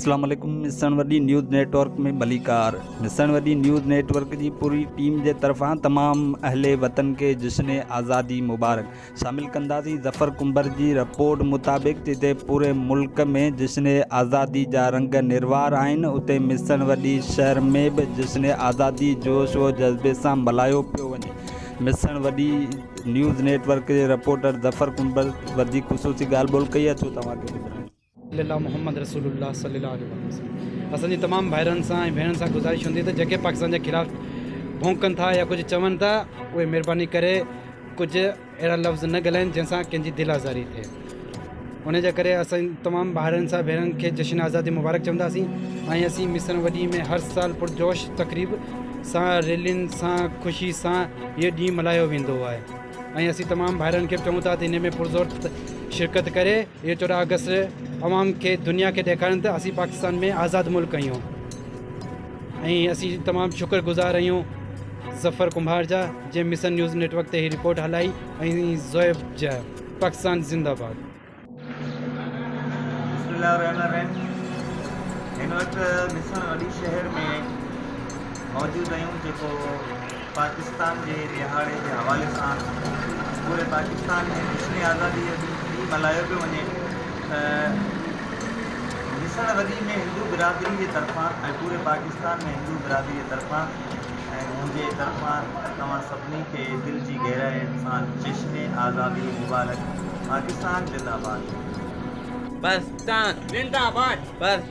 اسلام عليڪم مسڻ وڏي نيوز نيٽ ورڪ ۾ ڀليڪار مسڻ وڏي نيوز نيٽ ورڪ جي پوري ٽيم جي طرفان تمام اهل وطن کي جشن آزادي مبارڪ شامل ڪنداسين ظفر ڪنڀر جي رپورٽ مطابق جتي پوري ملڪ ۾ جشن آزادي جا رنگ نروار آهن اتي مصر وڏي شهر ۾ به جشن آزادي جوش و جذبي سان ملهايو پيو وڃي مصر وڏي نيوز نيٽ ورڪ جي رپورٽر ظفر ڪنڀر وڌيڪ خصوصي ڳالهه ٻولهه ڪئي آهي ڇو توهان کي ٻڌرائيون صلي الله محمد رسول الله صلي الله عليه واٰله وسلم اسان جي تمام ڀائرن سان ۽ ڀيڻن سان گذارش هوندي ته جيڪي پاڪستان جي خلاف ڀونڪن ٿا يا ڪجهه چون ٿا اهي مهرباني ڪري ڪجهه اهڙا لفظ نه ڳالهائين جنهن سان ڪنهن جي دل آزاري ٿئي ان جي ڪري اسان تمام ڀائرن سان ڀيڻن کي جشن آزادي مبارڪ چونداسين ۽ اسين مصر وڏي ۾ هر سال پرجوش تقريب سان ريلين سان خوشي سان هيء ڏينهن ملهايو ويندو آهي ۽ اسين تمام ڀائرن کي به چون ٿا ته ان ۾ پرزور شرڪت ڪري اهو چوڏهن آگسٽ عوام کي دنيا کي ڏيکاريون ته اسين پاڪستان ۾ آزاد ملڪ آهيون ۽ اسين تمام شڪر گذار آهيون ظفر ڪنڀار جا جنهن مصر نيوز نيٽ ورڪ تي هي رپورٽ هلائي ۽ زويب جا پاڪستان زنده باد بسم الله الرحمن الرحيم هن وقت مصر وڏي شهر ۾ موجود آهيون جيڪو پاڪستان جي ڏهاڙي جي حوالي سان پوري پاڪستان ۾ جشن آزادي جو ڏينهن ٽي ملهايو پيو وڃي ته ميسڻ وڏي ۾ هندو برادري جي طرفان ۽ پوري پاڪستان ۾ هندو برادري جي طرفان ۽ منهنجي طرفان توهان سڀني کي دل جي گهرائين سان جشن آزادي مبارڪ پاڪستان زنده باد. پاڪستان زنده باد.